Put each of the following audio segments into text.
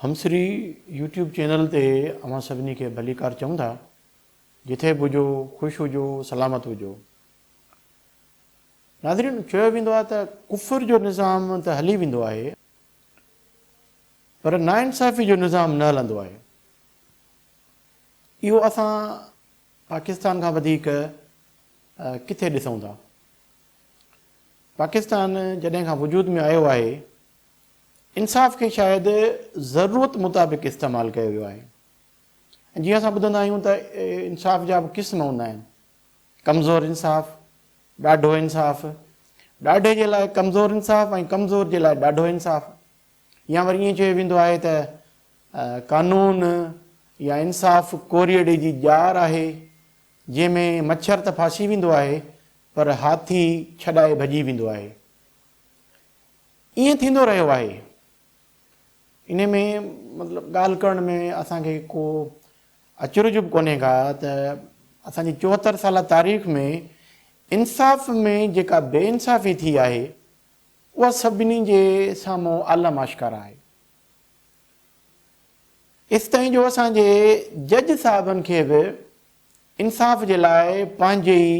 همسري YouTube channel تي اوهان سڀني کي ڀليڪار چئون ٿا جٿي به هجو خوش هجو سلامت هجو. ناظرين چيو ويندو آهي ته ڪفر جو نظام ته هلي ويندو آهي پر ناانصافي جو نظام نه هلندو آهي اهو اسان پاڪستان کان وڌيڪ ڪٿي ڏسون ٿا. پاڪستان جڏهن کان وجود ۾ آيو آهي انصاف کي شايد ضرورت مطابق استعمال ڪيو ويو آهي ۽ جيئن اسان ٻڌندا آهيون ته انصاف جا به قسم هوندا آهن ڪمزور انصاف ڏاڍو انصاف ڏاڍي جي لاء ڪمزور انصاف ۽ ڪمزور جي لاء ڏاڍو انصاف يا وري ائين چيو ويندو آهي ته قانون يا انصاف ڪوريئڙي جي ڄار آهي جنهن ۾ مڇر ته ڦاسي ويندو آهي پر هاٿي ڇڏائي ڀڄي ويندو آهي ائين ٿيندو رهيو آهي. انهي ۾ مطلب ڳالهه ڪرڻ ۾ اسان کي ڪو اچرج به ڪونهي ڪا ته اسان جي چوهتر سالا تاريخ ۾ انصاف ۾ جيڪا بي انصافي ٿي آهي اها سڀني جي سامهون عالم آشڪارا آهي. ايستائين جو اسان جي جج صاحبن کي به انصاف جي لاء پنهنجي ئي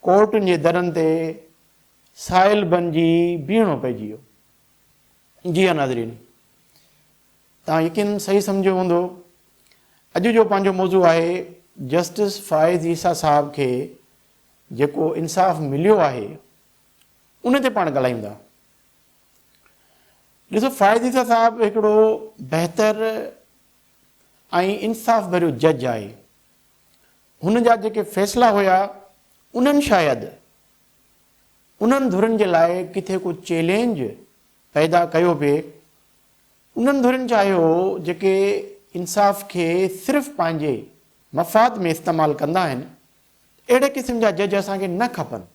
ڪورٽن جي درن تي سائل بنجي بيهڻو پئجي ويو. جي ها ناظرين توهان يقينن صحيح سمجهيو هوندو اڄ جو پنهنجو موضوع آهي جسٽس فائز عيسيٰ صاحب کي جيڪو انصاف مليو آهي ان تي پاڻ ڳالهايون ٿا. ڏسو فائز عيسيٰ صاحب هڪڙو بهتر ۽ انصاف ڀريو جج آهي. هن جا جيڪي فيصلا هيا انهن شايد انهن ڌرين جي لاء ڪٿي ڪو چئلينج پيدا ڪيو پئي، انهن ڌرين چاهيو هو جيڪي انصاف کي صرف پنهنجي مفاد ۾ استعمال ڪندا آهن اهڙي قسم جا جج اسان کي نه کپن.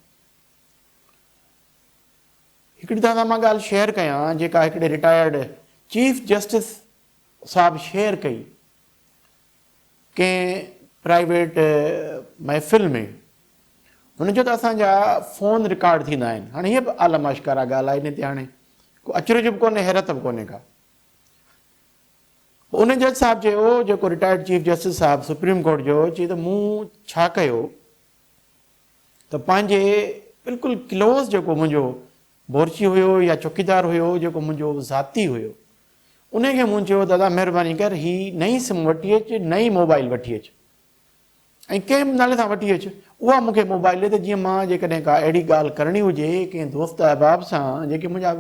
هڪڙي توهان سان مان ڳالهه شيئر ڪيان جيڪا هڪڙي رٽائرڊ چيف جسٽس صاحب شيئر ڪئي ڪنهن پرائيويٽ محفل ۾ هن چيو ته اسان جا فون رڪارڊ ٿيندا آهن. هاڻي هيء به عالم آشڪارا ڳالهه آهي ان تي هاڻي ڪو اچرج به ڪونهي حيرت به ڪونهي ڪا. پوء ان جج صاحب چيو جيڪو رٽائرڊ چيف جسٽس صاحب سپريم ڪورٽ جو چي ته مون ڇا ڪيو ته پنهنجي بلڪل ڪلوز جيڪو منهنجو بورچي هيو يا چوڪيدار هيو جيڪو منهنجو ذاتي هيو انهي کي مون چيو دادا مهرباني ڪر هي نئين سم وٺي اچ نئين موبائل وٺي اچ ۽ ڪنهن به نالي سان وٺي اچ اها مون کي موبائل ڏي ته جيئن مان جيڪڏهن ڪا اهڙي ڳالهه ڪرڻي هجي ڪنهن دوست احباب سان جيڪي منهنجا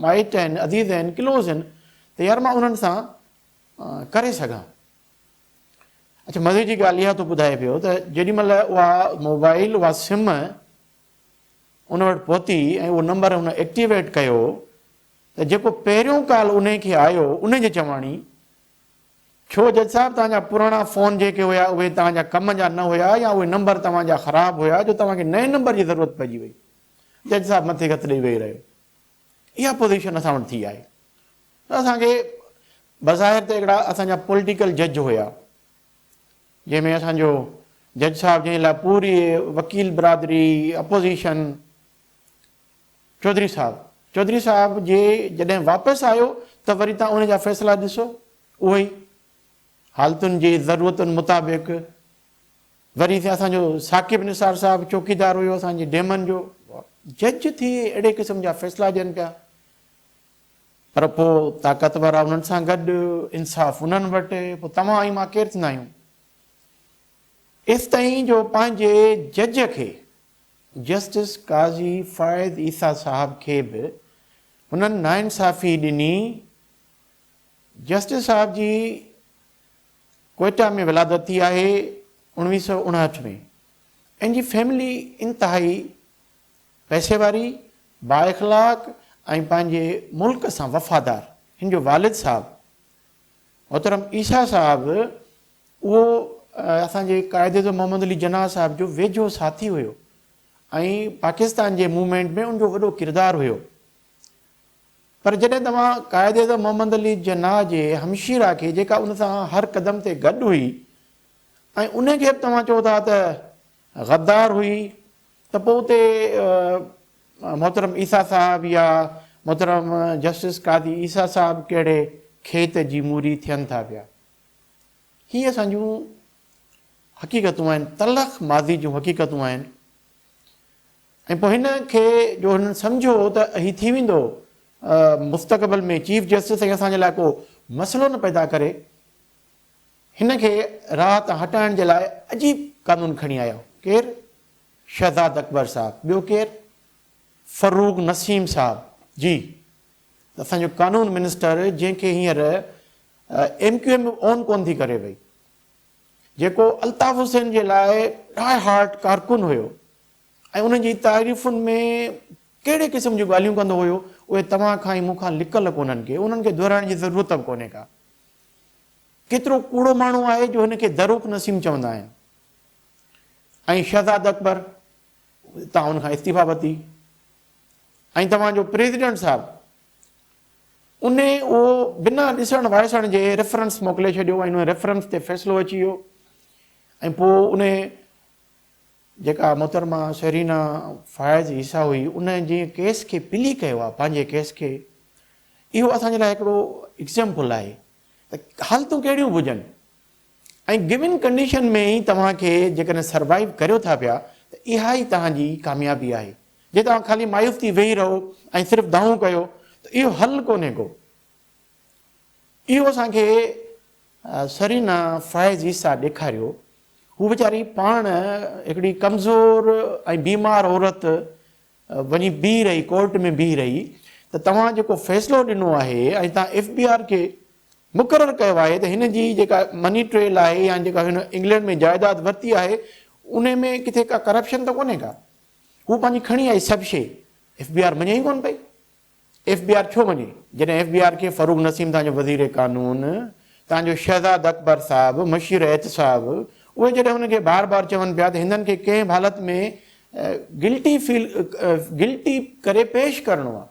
مائٽ آهن عزيز آهن ڪلوز آهن ته يار مان انهن سان ڪري سگهان اچھا مزي جي ڳالهه اها ٿو ٻڌائي پيو ته جيڏي مهل اها موبائل اها سم ان وٽ پهتي ۽ اهو نمبر هن ايڪٽيويٽ ڪيو ته جيڪو پهريون ڪال انهي کي آيو انهي جي چواڻي ڇو جج صاحب توهان جا پراڻا فون جيڪي هيا اهي توهان جا ڪم جا نه هيا يا اهي نمبر توهان جا خراب هيا جو توهان کي نئين نمبر جي ضرورت پئجي وئي جج صاحب مٿي هٿ ڏئي ويهي رهيو اها پوزيشن اسان وٽ ٿي آهي اسان کي بظاهر ته هڪڙا اسان جا پوليٽيڪل جج هيا جنهن ۾ اسان جو جج صاحب جنهن لاء پوري وڪيل برادري اپوزيشن چوڌري صاحب چوڌري صاحب جي جڏهن واپس آيو ته وري تان ان جا فيصلا ڏسو اهو ئي حالتن جي ضرورتن مطابق وري سي اسان جو ثاقب نثار صاحب چوڪيدار هيو اسان جي ڊيمن جو جج ٿي اهڙي قسم جا فيصلا ڏين پيا پر پوء طاقتور آ انهن سان گڏ، انصاف انهن وٽ، پوء توهان ۽ مان ڪير ٿيندا آهيون؟ ايستائين جو پنهنجي جج کي، جسٽس قاضي فائد عيسيٰ صاحب کي به هنن ناانصافي ڏني، جسٽس صاحب جي ڪوئيٽا ۾ ولادت ٿي آهي، اوڻويهه سؤ اڻهٺ ۾، ان جي فيملي انتهائي پئسي واري، بااخلاق ۽ پنهنجي ملڪ سان وفادار هن جو والد صاحب محترم عيسيٰ صاحب اهو اسان جي قائد اعظم محمد علي جناح صاحب جو ويجهو ساٿي هيو ۽ پاڪستان جي موومينٽ ۾ ان جو وڏو ڪردار هيو پر جڏهن توهان قائد اعظم محمد علي جناح جي همشيرا کي جيڪا ان سان هر قدم تي گڏ هئي ۽ ان کي به توهان چئو ٿا ته غدار هئي ته پوء اتي محترم عيسيٰ صاحب يا محترم جسٽس قاضي عيسيٰ صاحب ڪهڙي کيت جي موري ٿين ٿا پيا. هي اسان جون حقيقتون آهن، تلخ ماضي جون حقيقتون آهن ۽ پوء هن کي جو هنن سمجهيو هو ته هي ٿي ويندو مستقبل ۾ چيف جسٽس ۽ اسان جي لاء ڪو مسئلو نه پيدا ڪري هن کي راهه تان هٽائڻ جي لاء عجيب قانون کڻي آيو. ڪير؟ شهزاد اڪبر صاحب. ٻيو ڪير؟ فروغ نسيم صاحب. جي ته اسان جو قانون منسٽر جنهن کي هينئر ايم ڪيو ايم به اون ڪونه ٿي ڪري پئي. جيڪو الطاف حسين جي لاء ڊاء هارٽ ڪارڪن هيو ۽ انهن جي تعريفن ۾ ڪهڙي قسم جون ڳالهيون ڪندو هيو اهي توهان کان ۽ مون کان لڪل ڪونهن ڪي انهن کي دهرائڻ جي ضرورت به ڪونهي ڪا. ڪيترو ڪوڙو ماڻهو آهي جو هن کي دروڪ نسيم چوندا آهن ۽ شهزاد اڪبر اتان ان کان استعيفا ورتي ۽ توهان جو پريزيڊنٽ صاحب ان اهو بنا ڏسڻ وائسڻ جي ريفرنس موڪلي ڇڏيو ۽ ان ريفرنس تي فيصلو اچي ويو ۽ پوء ان جيڪا محترمه سيرينا فائز عيسيٰ هئي ان جنهن ڪيس کي پلي ڪيو آهي پنهنجي ڪيس کي اهو اسان جي لاء هڪڙو ايگزيمپل آهي ته حالتون ڪهڙيون به هجن ۽ گون ڪنڊيشن ۾ ئي توهان کي جيڪڏهن سروائيو ڪريو ٿا پيا ته اها ئي توهان جي ڪاميابي آهي جي توهان خالي مايوس ٿي ويهي رهو ۽ صرف دانهون ڪيو ته اهو حل ڪونهي ڪو. اهو اسان کي سرينا فائز عيسيٰ ڏيکاريو. هو ويچاري پاڻ هڪڙي ڪمزور ۽ بيمار عورت وڃي بيهي رهي ڪورٽ ۾ بيهي رهي ته توهان جيڪو فيصلو ڏنو آهي ۽ توهان ايف بي آر کي مقرر ڪيو آهي ته هن جي جيڪا مني ٽريل آهي يا جيڪا هن انگلينڊ ۾ جائيداد ورتي آهي ان ۾ ڪٿي ڪا ڪرپشن ته ڪونهي ڪا. هو پنهنجي کڻي آئي سڀ شيء. ايف بي آر مڃي ئي ڪونه پئي. ايف بي آر ڇو وڃي؟ جڏهن ايف بي آر کي فروغ نسيم تان جو وزير قانون تان جو شهزاد اڪبر صاحب مشير احتساب اهي جڏهن هن کي بار بار چون پيا ته هندن کي ڪنهن به حالت ۾ گلٽي فيل گلٽي ڪري پيش ڪرڻو آهي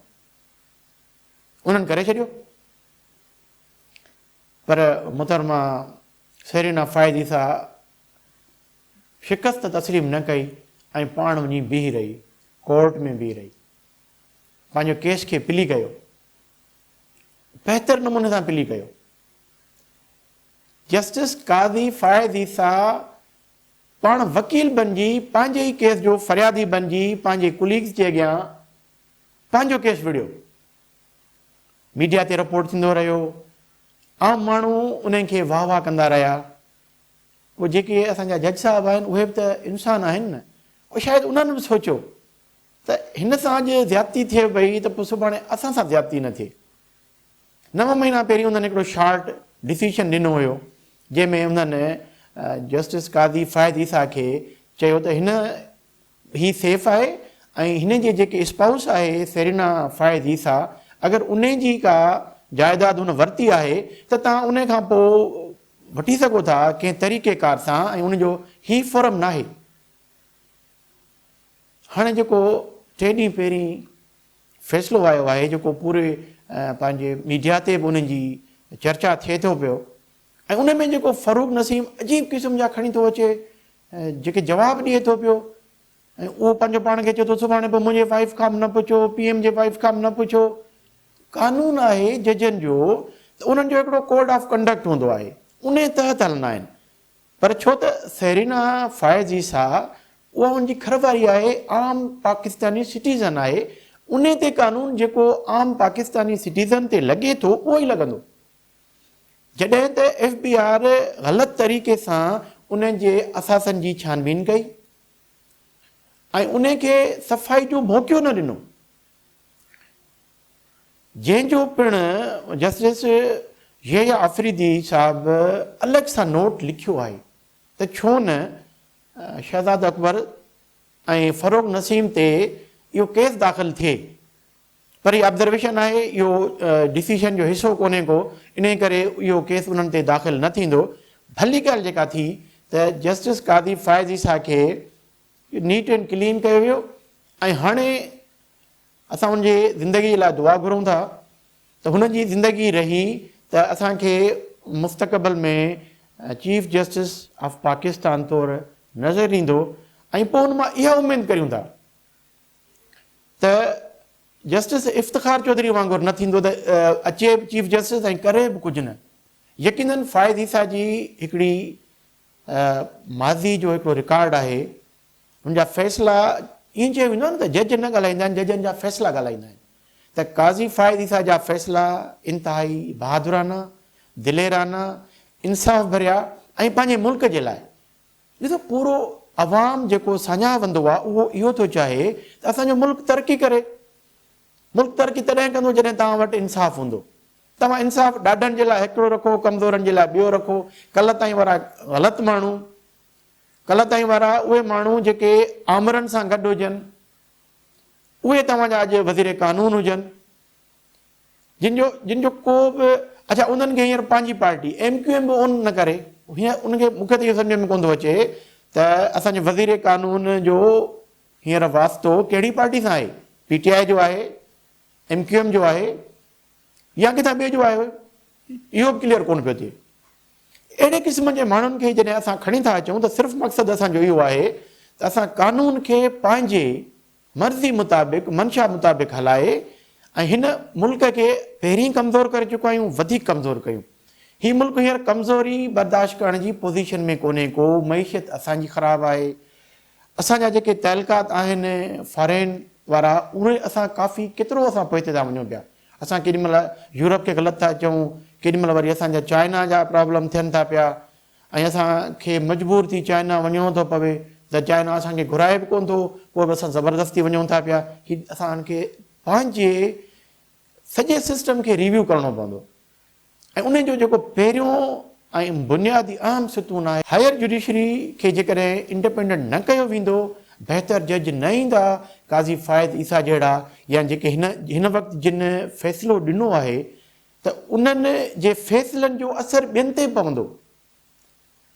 انهن ڪري ڇڏيو پر محترمه سيرينا فائزي سا شڪست تسليم نه ڪئي ۽ پاڻ وڃي بيهي رهي ڪورٽ ۾ بيهي رهي پنهنجو ڪيس کي پلي ڪيو بهتر نموني سان پلي ڪيو جسٽس قاضي فائز عيسيٰ پاڻ وڪيل بنجي پنهنجي ئي ڪيس جو فريادي بنجي پنهنجي ڪليگز جي اڳيان پنهنجو ڪيس وڙهيو ميڊيا تي رپورٽ ٿيندو رهيو عام ماڻهو انهن کي واهه واهه ڪندا رهيا پوء جيڪي اسان جا جج صاحب آهن اهي به ته انسان آهن نه پوء شايد انهن به سوچيو ته هن سان اڄ زيادتي ٿئي پئي ته پوء سڀاڻي اسان سان زيادتي نه ٿئي. نو مهينا پهرين انهن هڪڙو شارٽ ڊسيشن ڏنو هيو جنهن ۾ انهن جسٽس قاضي فائد عيسيٰ کي چيو ته هن هي سيف آهي ۽ هن جي جيڪي اسپائوس آهي سيرينا فائد عيسيٰ اگر ان جي ڪا جائداد هن ورتي آهي ته توهان ان کان پوء وٺي سگهو ٿا ڪنهن طريقي ڪار سان ۽ ان جو هي فورم ناهي. هاڻي جيڪو ٽي ڏينهن پهرين فيصلو آيو آهي جيڪو پوري پنهنجي ميڊيا تي به ان جي چرچا ٿئي ٿو پيو ۽ ان ۾ جيڪو فاروق نسيم عجيب قسم جا کڻي ٿو اچي جيڪي جواب ڏئي ٿو پيو ۽ اهو پنهنجو پاڻ کي چئي ٿو سڀاڻي به منهنجي وائف کان به نه پڇو پي ايم جي وائف کان به نه پڇو قانون آهي ججن جو ته انهن جو هڪڙو ڪوڊ آف ڪنڊڪٽ هوندو آهي ان تحت هلندا آهن پر ڇو ته سيرينا فائز جي ساهه اها ان جي کر واري آهي، عام پاڪستاني سٽيزن آهي، انهي تي قانون جيڪو عام پاڪستاني سٽيزن تي لڳي ٿو اهو ئي لڳندو. جڏهن ته ايف بي آر غلط طريقي سان انهن جي اثاثن جي ڇانبين ڪئي ۽ انهي کي صفائي جو موقعو نه ڏنو. جنهن جو پڻ جسٽس يحيٰ آفريدي صاحب الڳ سان نوٽ لکيو آهي ته ڇو نه شهزاد اڪبر ۽ فروغ نسيم تي اهو ڪيس داخل ٿئي پر هي آبزرويشن آهي اهو ڊسيشن جو حصو ڪونهي ڪو انهي ڪري اهو ڪيس انهن تي داخل نه ٿيندو ڀلي ڳالهه جيڪا ٿي ته جسٽس قاضي فائز عيسيٰ کي نيٽ اينڊ ڪلين ڪيو ويو ۽ هاڻي اسان هن جي زندگي لاء دعا گهرون ٿا ته هن جي زندگي رهي ته اسان کي مستقبل ۾ چيف جسٽس آف پاڪستان طور نظر ايندو ۽ پوء ان مان اها اميد ڪريون ٿا ته جسٽس افتخار چوڌري وانگر نه ٿيندو ته اچي به چيف جسٽس ۽ ڪري به ڪجهه نه يقينن فائز عيسا جي هڪڙي ماضي جو هڪڙو رڪارڊ آهي ان جا فيصلا ائين چيو ويندو آهي نه ته جج نه ڳالهائيندا آهن ججن جا فيصلا ڳالهائيندا آهن ته قاضي فائز عيسيٰ جا فيصلا انتهائي بهادرانه دليرانه انصاف ڀريا ۽ پنهنجي ملڪ جي لاء ڏسو پورو عوام جيڪو ساڃاهه وندو آهي اهو اهو ٿو چاهي ته اسان جو ملڪ ترقي ڪري ملڪ ترقي تڏهن ڪندو جڏهن توهان وٽ انصاف هوندو. توهان انصاف ڏاڍن جي لاء هڪڙو رکو ڪمزورن جي لاء ٻيو رکو. ڪلهه تائين وارا غلط ماڻهو ڪلهه تائين وارا اهي ماڻهو جيڪي آمرن سان گڏ هجن اهي توهان جا اڄ وزير قانون هجن جن جو جن جو ڪو به اڇا انهن کي هينئر پنهنجي پارٽي ايم ڪيو ايم به اون نه ڪري هينئر ان کي مون کي ته اهو سمجهه ۾ ڪونه ٿو اچي ته اسان جي وزير قانون جو هينئر واسطو ڪهڙي پارٽي سان آهي؟ پي ٽي آء جو آهي؟ ايم ڪيو ايم جو آهي؟ يا ڪٿان ٻئي جو آهي؟ اهو به ڪليئر ڪونه پيو ٿئي. اهڙي قسم جي ماڻهن کي جڏهن اسان کڻي ٿا اچون ته صرف مقصد اسان جو اهو آهي ته اسان قانون کي پنهنجي مرضي مطابق، منشا مطابق هلائي ۽ هن ملڪ کي پهرين ڪمزور ڪري چڪا آهيون، وڌيڪ ڪمزور ڪيون. هي ملڪ هينئر ڪمزوري برداشت ڪرڻ جي پوزيشن ۾ ڪونهي ڪو، معيشت اسان جي خراب آهي، اسان جا جيڪي تعلقات آهن فارين وارا اهي اسان ڪافي ڪيترو اسان پوئتي ٿا وڃون پيا اسان ڪيڏي مهل يورپ کي غلط ٿا چئون ڪيڏي مهل وري اسان جا چائنا جا پرابلم ٿين ٿا پيا ۽ اسان کي مجبور ٿي چائنا وڃڻو ٿو پوي ته چائنا اسان کي گهرائي به ڪون ٿو پوء به اسان زبردستي وڃون ٿا پيا هي اسان کي پنهنجي سڄي سسٽم کي ريويو ڪرڻو پوندو ۽ ان جو جيڪو پهريون ۽ بنيادي اهم ستون آهي. هائير جڊيشري کي جيڪڏهن انڊپينڊنٽ نه ڪيو ويندو، بهتر جج نه ايندا، قاضي فائز عيسيٰ جهڙا يا جيڪي هن هن وقت جن فيصلو ڏنو آهي ته انهن جي فيصلن جو اثر ٻين تي پوندو.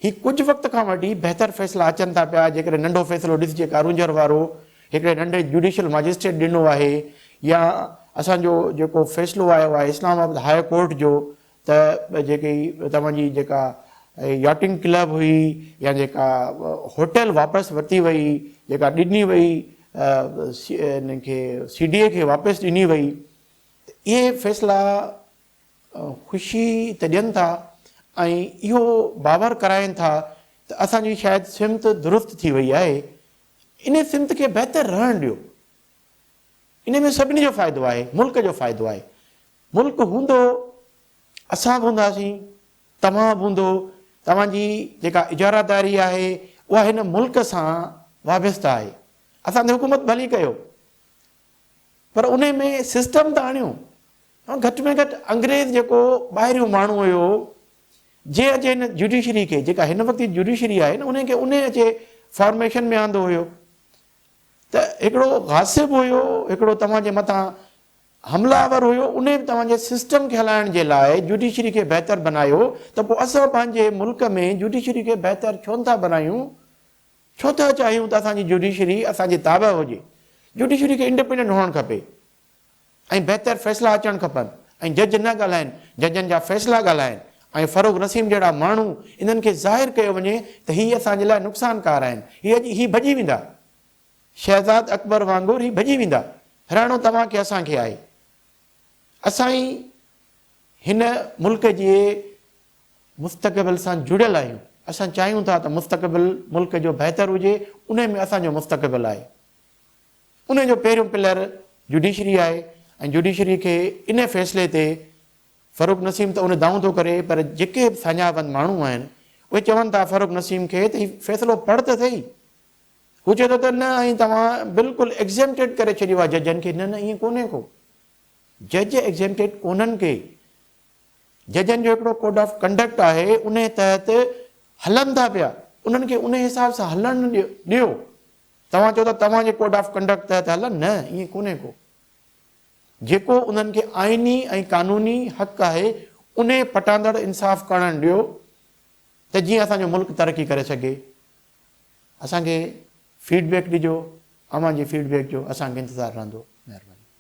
هي ڪجهه وقت کان وٺي بهتر فيصلا اچن ٿا پيا، جيڪڏهن ننڍو فيصلو ڏس جيڪا رونجهر وارو هڪڙي ننڍي جوڊيشل ماجسٽريٽ ڏنو آهي يا اسان جو جيڪو فيصلو آيو آهي اسلام آباد هاء ڪورٽ جو ته جيڪي توهان جي جيڪا ياٽنگ ڪلب هئي يا جيڪا هوٽل واپس ورتي وئي جيڪا ڏني وئي انهن کي سي ڊي اي کي واپس ڏني وئي ته اهي فيصلا خوشي ته ڏين ٿا ۽ اهو باور ڪرائين ٿا ته اسان جي شايد سمت درست ٿي وئي آهي، انهي سمت کي بهتر رهڻ ڏيو، انهي ۾ سڀني جو فائدو آهي، ملڪ جو فائدو آهي، ملڪ هوندو، اسان به هونداسين، توهان به هوندو، توهان جي جيڪا اجاره داري آهي اها هن ملڪ سان وابسته آهي، اسان تي حڪومت ڀلي ڪيو. پر انهي ۾ سسٽم ته آڻيو. گهٽ ۾ گهٽ انگريز جيڪو ٻاهريون ماڻهو هيو جي اچي هن جڊيشري کي جيڪا هن وقت جي جڊيشري آهي نه انهي کي انهي اچي فارميشن ۾ آندو هيو ته هڪڙو غاصب هيو هڪڙو توهان جي مٿان حملا آور هيو انهي به توهان جي سسٽم کي هلائڻ جي لاء جڊيشري کي بهتر بنايو ته پوء اسان پنهنجي ملڪ ۾ جڊيشري کي بهتر ڇو نٿا بنايون ڇو ٿا چاهيون ته اسان جي جوڊيشري اسان جي تابع هجي، جوڊيشري کي انڊپينڊنٽ هئڻ کپي ۽ بهتر فيصلا اچڻ کپن ۽ جج نه ڳالهائين، ججن جا فيصلا ڳالهائين ۽ فروغ نسيم جهڙا ماڻهو انهن کي ظاهر ڪيو وڃي ته هي اسان جي لاء نقصان ڪار آهن، هي اڄ هي ڀڄي ويندا، شهزاد اڪبر وانگر هي ڀڄي ويندا، رهڻو توهان کي اسان کي آهي، اسان ئي. هن ملڪ جي مستقبل سان جڙيل آهيون، اسان چاهيون ٿا ته مستقبل ملڪ جو بهتر هجي، انهي ۾ اسان جو مستقبل آهي. انهي جو پهريون پلر جڊيشري آهي ۽ جڊيشري کي انهي فيصلي تي فرخ نسيم ته اهي دانهون ٿو ڪري پر جيڪي به ساڃاهپند ماڻهو آهن اهي چون ٿا فرخ نسيم کي ته هي فيصلو پڙهه ته سهي، هو چئي ٿو ته نه ائين توهان بلڪل ايگزيمٽيڊ ڪري ڇڏيو آهي ججن کي، نه نه ائين ڪونهي ڪو. جج ايگزيمٽيڊ ڪونهن ڪي. ججن جو هڪڙو ڪوڊ آف ڪنڊڪٽ آهي، انهي تحت هلن ٿا پيا. انهن کي انهي حساب سان هلڻ ڏيو. توهان چئو ٿا توهان جي ڪوڊ آف ڪنڊڪٽ تحت هلن، نه ائين ڪونهي ڪو. جيڪو انهن کي آئيني ۽ قانوني حق آهي، انهي پٽاندڙ انصاف ڪرڻ ڏيو ته جيئن اسان جو ملڪ ترقي ڪري سگهي. اسان کي فيڊ بيڪ ڏجو، اوهان جي فيڊ بيڪ جو اسان کي انتظار رهندو. مهرباني.